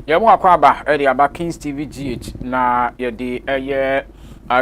Yɛn mu akwaaba de aba Kings TV GH na yɛde ɛyɛ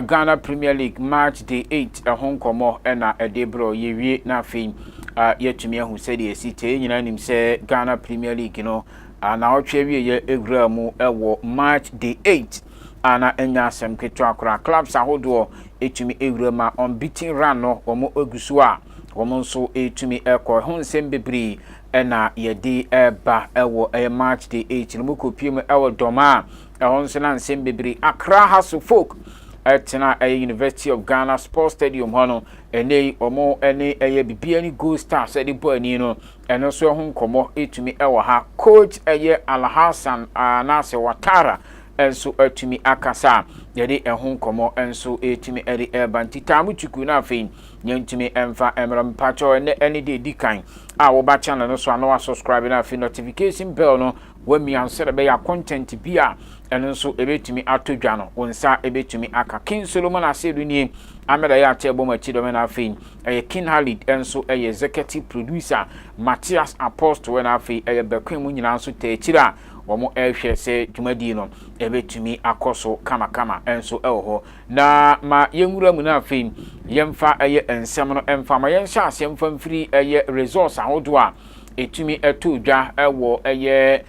Ghana Premier League March Day 8 ɛho nkɔmmɔ ɛna ɛde brɔ yɛwie na afei yɛatumi ahu sɛdeɛ ɛsi te. Yɛn nyinaa nim sɛ Ghana Premier League no na ɔtwe awieɛ ɛwura mu ɛwɔ March Day 8 ana ɛnya asɛm ketewa koraa. Clubs ahodoɔ ɛtumi ɛwura ma unbeaten run no wɔn ɛgu so a wɔn nso ɛtumi ɛkɔ ɛho nsɛm bebree na yɛde reba wɔ ɛyɛ March the eight no mu kɔpie mu wɔ Dɔma a ɛhɔ nso na nsɛm bebree Accra Hasso Folk ɛtena ɛyɛ University of Ghana Sports Stadium hɔ no ɛnɛ yi wɔn ne ɛyɛ bibia ne Gold Stars ɛde bɔ ani no ɛno nso ɛho nkɔmmɔ ɛtumi ɛwɔ ha coach ɛyɛ Alhassan anaasɛ Watara ɛnso ɛtumi akasa yɛde ɛho nkɔmmɔ ɛnso ɛtumi ɛde ɛba nti taa mo tuku no afei Yɛntumi mfa mmerɛ mpakyɛw ɛnɛ ɛne deɛ ɛdi kan a woba channel no so a na wa subscribe na afei notification bell no wamia sɛ ɛbɛyɛ a content bi a ɛno nso ɛbɛtumi atɔ dwa no wo nsa ɛbɛtumi aka King Solomon Asiedu nie Ahmed Ayate ɛbɔ mu akyi dɔmɛ na afei ɛyɛ King Halid ɛnso ɛyɛ executive producer Matthias Apostle ɛna afei ɛyɛ Bɛkoe mu nyinaa nso tɛ akyiri a wɔn ɛrehwɛ sɛ dwumadie no ɛbɛtumi akɔ so kamakama ɛnso ɛwɔ hɔ Na ma yɛnwura mu na afei yɛmfa ɛyɛ nsɛm no mfa ma yɛnhyɛ aseɛ mfa mfiri ɛyɛ resource ahodoɔ a ɛtumi ɛtoo dwa ɛwɔ ɛyɛ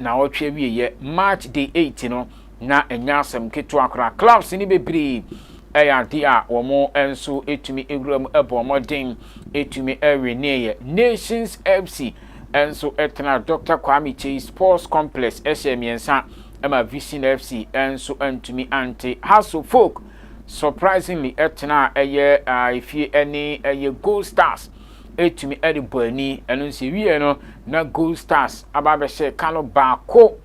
naawɔtwe awieɛ March day eight no na ɛnyɛ asɛm ketewa koraa clubs no bebree ɛyɛ adeɛ a wɔn nso ɛtumi ɛwura mu ɛbɔ mmɔden ɛtumi ɛweneeɛ Nations FC nso ɛtena Doctor Kwame Kyei Sports Complex ɛhyɛ mmiɛnsa ɛma Vision FC nso antumi ante. Hasso Folk surprisingly tenaa ɛyɛ efie ɛne ɛyɛ Gold Stars ɛtumi ɛde bɔ ani. Ɛno nso ɛwieɛ no na Gold Stars aba abɛhyɛ ka no baako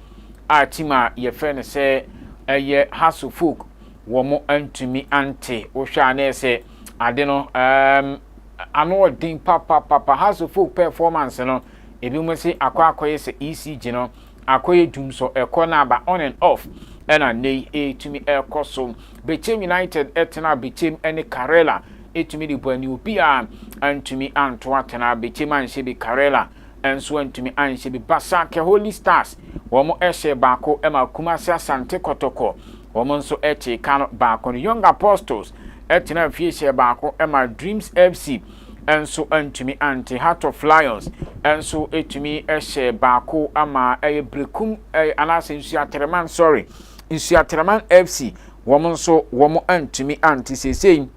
a team a yɛfrɛ no sɛ ɛyɛ Hasso Folk wɔn antumi ante. Wohwɛ a na ɛyɛ sɛ ade no um, ano ɔden papapapa. Hasso Folk performance no ebi mo se akɔ akɔyɛ sɛ ECG no Akɔyɛ dum so ɛkɔ na aba on and off ɛna nnɛ yi ɛretumi ɛrekɔ so. Bechem United ɛtenaa Bechem ɛne Karela ɛtumi de bɔ ani obiara antumi anto atena Bechem anhyɛ bi Karela nso antumi anhyɛ bi Basake Holy Stars wɔn ɛhyɛɛ baako ɛma Kumasi Asante Kɔtɔkɔ wɔn nso ɛkyee ka no baako no Young Apostles ɛtenaa fie hyɛɛ baako ɛma Dreams FC nso antumi ante. Heart of Lions nso tumi hyɛɛ baako ma ɛyɛ Berekum eh, anaasɛ Nsuatɛrɛman sorry Nsuatɛrɛman FC wɔn nso wɔn antumi ante. Seesei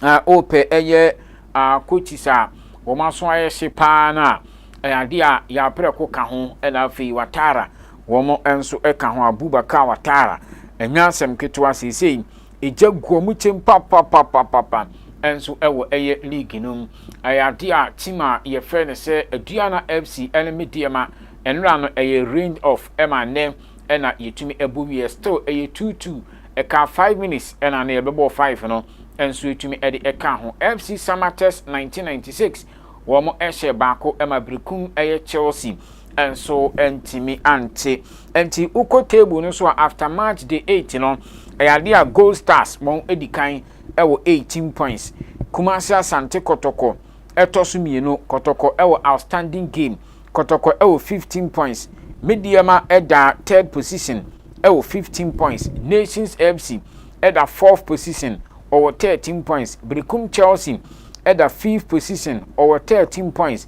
uh, ɔpɛ ɛyɛ uh, coaches a wɔn aso ayɛ hye paa no a ɛyɛ adeɛ a yɛaprɛko ka ho ɛna afei Watara wɔn nso ka ho Abubakar Watara ɛnyɛ asɛm ketewa seesei Egya gua mu kyem papapapapapa nso wɔ ɛyɛ league no mu. Ɛyɛ adeɛ a team a yɛfrɛ no sɛ Aduana FC ne Medeama nnora no ɛyɛ range off ma nnɛ na yɛtumi bɔ wieɛ still ɛyɛ two two ɛkaa five minutes na na yɛbɛbɔɔ five no nso yɛtumi de ɛkaa ho. FC Samatex nineteen ninety six wɔn hyɛ baako ma Berekum ɛyɛ Chelsea. nso ntumi ante. Nti wokɔ table no so a after match day eight no, ɛyɛ adeɛ a Gold Stars wɔn adi kan wɔ eighteen points. Kumasi Asante Kɔtɔkɔ ɛtɔ so mmienu. Kɔtɔkɔ wɔ outstanding game. Kɔtɔkɔ wɔ fifteen points. Medeɛma ɛda third position wɔ fifteen points. Nations FC ɛda fourth position ɔwɔ thirteen points. Berekum Chelsea ɛda fifth position ɔwɔ thirteen points.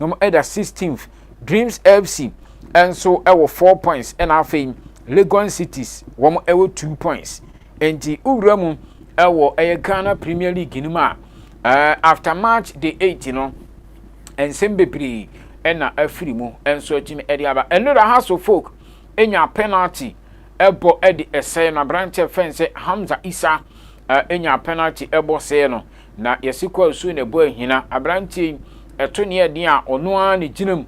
na wɔn ɛda sixteenth dreams fc nso ɛwɔ four points ɛna afei legon cities wɔn ɛwɔ two points nti wowura mu ɛwɔ ɛyɛ ghana premier league no mu a ɛɛ after march day eight no nsɛm bebree ɛna afiri mu nso akyimi ɛde aba ɛno da house of folk enya penalty ɛbɔ ɛde ɛsɛɛ no aberanteɛ fɛn sɛ hamza isa ɛnya penalty ɛbɔ sɛɛ no Na yɛse Kwasu na ɛbɔ ahina. Aberanteɛ yi, ɛto ne yɛ den a, ɔno ara na ɛgyina mu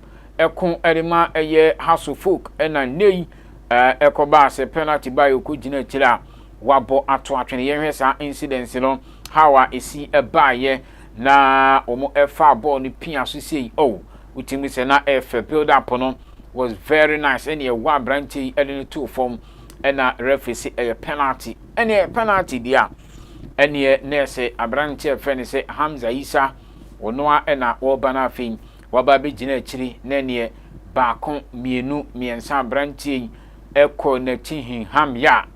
ko de ma ɛyɛ Hasso Folk. Ɛna nnɛ yi, ɛkɔbaa sɛ penalty baeɛ, ɔkɔgyina akyire a wabɔ ato atwene. Yɛnhwɛ saa incidence no, how a ɛsi baeɛ na wɔfaa bɔɔl no pia so sei. Oh! Wotumi hu sɛ na ɛyɛ fɛ. Build up no was very nice. Ɛna ɛwɔ aberanteɛ yi de no too fam, ɛna referee se ɛyɛ penalty. Ɛneɛ penalty deɛ a, Ɛneɛ nɛɛse aberanteɛ a yɛfrɛ no sɛ Hamza Isa, ɔno ara na ɔreba no afei waba abɛgyina akyiri na ɛneɛ baako, mmienu, mmiɛnsa aberanteɛ yi kɔɔ n'akyi hinham yɛ a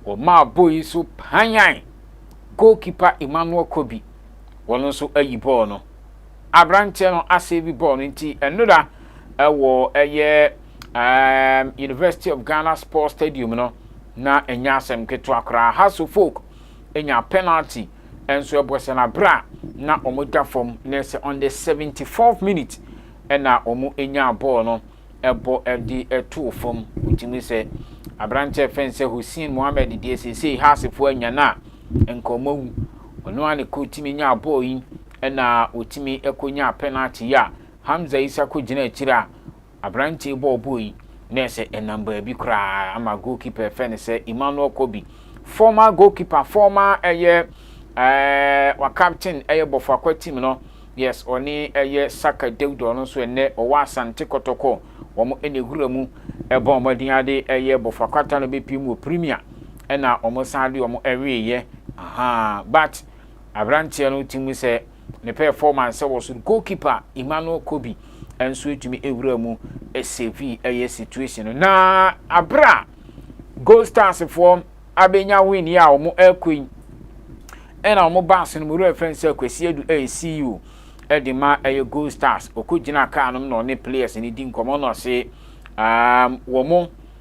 ɔmaa bɔɔl yi so panyan goal keeper Emmanuel Kobi, ɔno nso ayi bɔɔl no. Aberanteɛ no asave bɔɔl no nti ɛno da wɔ ɛyɛ ɛɛm University of Ghana Sports Stadium no, na ɛnyɛ asɛm ketewa koraa. Hasso Folk nyaa penalty nso ɛbɔ sɛ na berɛ a na wɔn da fam na ɛsɛ on the 74th minute ɛna wɔn nyaa bɔɔl no ɛbɔ ɛde ɛtoo fam. Wotumi sɛ aberanteɛ ɛfɛ nsɛ Hussein Mohammed deɛ seesei Haassefoɔ anya no a nka wɔn awu. Ɔno a ne kɔ tumi nyaa bɔɔl yi ɛna wɔtumi ɛkɔ nyaa penalty yi a Hamza Isa kɔ gyina akyire a Aberanteɛ bɔɔlbɔ yi na ɛsɛ ɛnam baabi koraa ama goalkeeper ɛfɛ no sɛ Emmanuel Kobi, former goalkeeper, former ɛyɛ ɛɛ wa captain ɛyɛ Bɔfoakwa team no, yes ɔne ɛyɛ Saka Dawuda ɔno nso ɛnnɛ ɔwɔ Asante Kɔtɔkɔ, wɔn na ɛwura mu ɛbɔ wɔn den ade ɛyɛ Bɔfoakwa ta no bɛpiem wɔ Premier ɛna wɔn san de wɔn ɛweeɛ, ahaa but aberanteɛ no ti mu sɛ. Ne pɛɛfɔmansɛ wɔ soro. Goalkeeper Emmanuel Kobi nso etumi ewura mu esevii ɛyɛ situation no. Na abere a Gold Stars foɔ abenya win yi a wɔn ɛkɔ yi, ɛna wɔn baase no mu wura fɛn sɛ Kwesi Adu ɛyɛ CEO ɛde ma ɛyɛ Gold Stars. Ɔkɔ gyina kaa nom na ɔne players no di nkɔmɔ na ɔse um, wɔn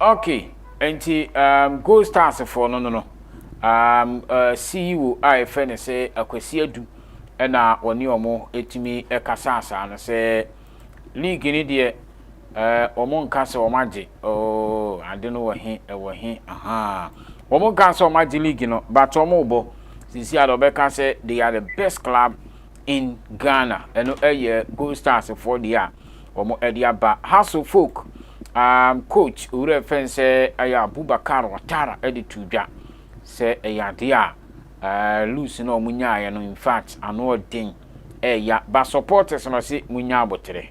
Okay, nti um, Gold Stars foɔ no no no um, uh, CEO a yɛfrɛ no sɛ Akwasi Adu ɛna wɔne wɔn ɛtumi ɛkasa asaa no sɛ league no deɛ Eh, wɔn nka sɛ wɔn agye, oh, ade no wɔ he, ɛwɔ he, ahaa. Wɔn nka sɛ wɔn agye league no, but wɔn rebɔ. Sisi a deɛ wɔbɛka sɛ they are the best club in Ghana, ɛno ɛyɛ Gold Stars foɔ deɛ a wɔn ɛde aba. Hassle Folk um, coach owura ɛfɛ nsɛ ɛyɛ Abubakar Watara ɛde tu dwa sɛ ɛyɛ adeɛ a uh, loose na wɔn nyaayɛ no, in fact, ano ɔden ɛɛya, but supporters no ɔse mo nya abotere.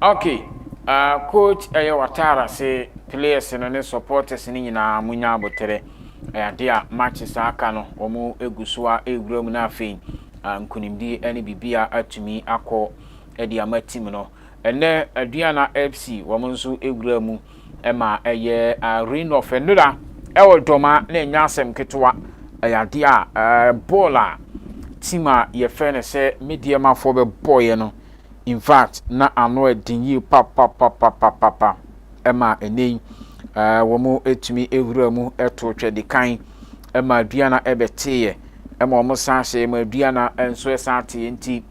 Ok ahh coach ɛyɛ w'ataare ase players no ne supporters no nyinaa mo nya abotere ɛyɛ adeɛ a matches a aka no wɔn egu so a ewura mu na afei ah, nkunimdie ɛne bibi a atumi akɔ ɛde ama team no ɛnɛ Aduana FC wɔn nso ewura mu. ɛma ɛyɛ arena of nnora ɛwɔ dɔma na ɛnyɛ asɛm ketewa ɛyɛ adeɛ a bɔɔl a team a yɛfɛ no sɛ mediamafoɔ bɛbɔɔyɛ no infact na ano ɛden yie papapapapapa ɛma ɛnɛ yi wɔn ɛtumi ɛwura mu ɛto twɛdikan ɛma aduana ɛbɛteeɛ ɛma wɔn san hyɛ ɛma aduana ɛnso ɛsan teeɛ nti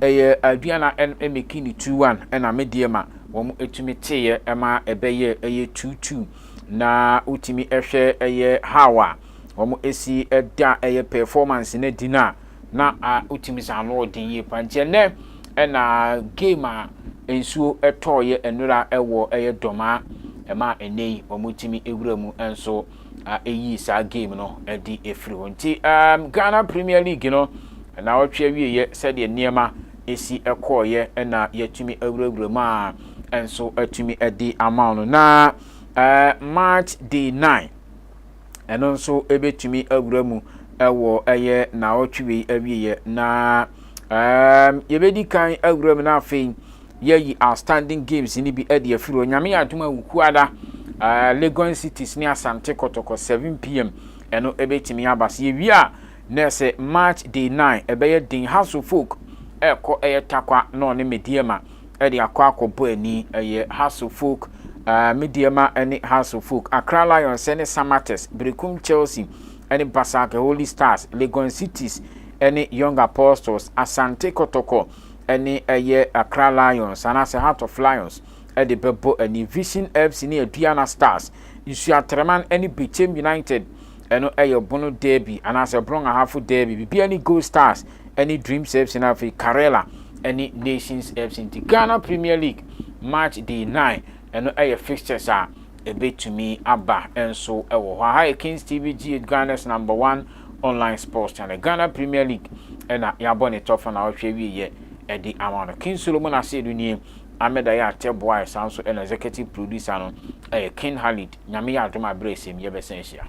ɛyɛ aduana ɛmɛki ne 2-1 ɛna mediama wɔtumi teeɛ ma ɛbɛyɛɛ ɛyɛ tuutuu na wotumi hwɛ ɛyɛ how a wɔsi da ɛyɛ performance no adi no a na wotumi sɛ ano ɔden yie paa nti ɛnɛ ɛna game a nsuo ɛtɔɔyɛ nnora ɛwɔ ɛyɛ dɔmaa ɛma ɛnɛ yi wɔtumi ewura mu nso ɛyi saa game no ɛde ɛfiri hɔ nti Ghana Premier League no na ɔtwe awieɛ sɛdeɛ nneɛma si kɔeɛ na yɛatumi awurawura mu a nso atumi adi ama wo no na March day 9 ɛno nso ɛbɛtumi awura mu ɛwɔ ɛyɛ naawɔtwe wei awieɛ na yɛbɛdi kan awura mu na afei yɛyi outstanding games no bi ɛde afiri hɔ nyame yɛ adom a wukuada Legon cities ne asante kɔtɔkɔ 7pm ɛno ɛbɛtumi aba sɛ yɛwie a Nɛse March day nine ɛbɛyɛ den House of Folk ɛkɔ ɛyɛ Tarkwa na ɔne Medeɛma ɛde akɔ akɔ bɔ ani ɛyɛ House of Folk ɛɛ Medeɛma ɛne House of Folk Accra Lions ɛne Samatex Berekum Chelsea ɛne Basak Holy Stars Legon Cities ɛne Young Apostles Asante Kɔtɔkɔ ɛne ɛyɛ Accra Lions anaasɛ Heart of Lions ɛde bɛbɔ ani Vision FC ne Aduana Stars Nsuatreman ɛne Bechem United Ɛno yɛ ɔbono derby anaasɛ ɔbono ahafo derby. Biribiara ne Gold Stars ne Dreams FC na afei Karela ne Nations FC. Nti Ghana Premier League March day nine, ɛno yɛ fixtures a ɛbɛtumi aba nso wɔ hɔ. Aha yɛ Kings TV GH, Ghana's number one online sports channel. Ghana Premier League na yɛabɔ ne tɔfa na ɔhwɛ wieɛ de ama no. King Solomon Asiedu nie, Ahmed Ayah Teboah saa nso na executive producer no. Ɛyɛ King Khalid, Nyame yɛ adom a berɛ a ɛsɛ mu yɛbɛsan ahyia.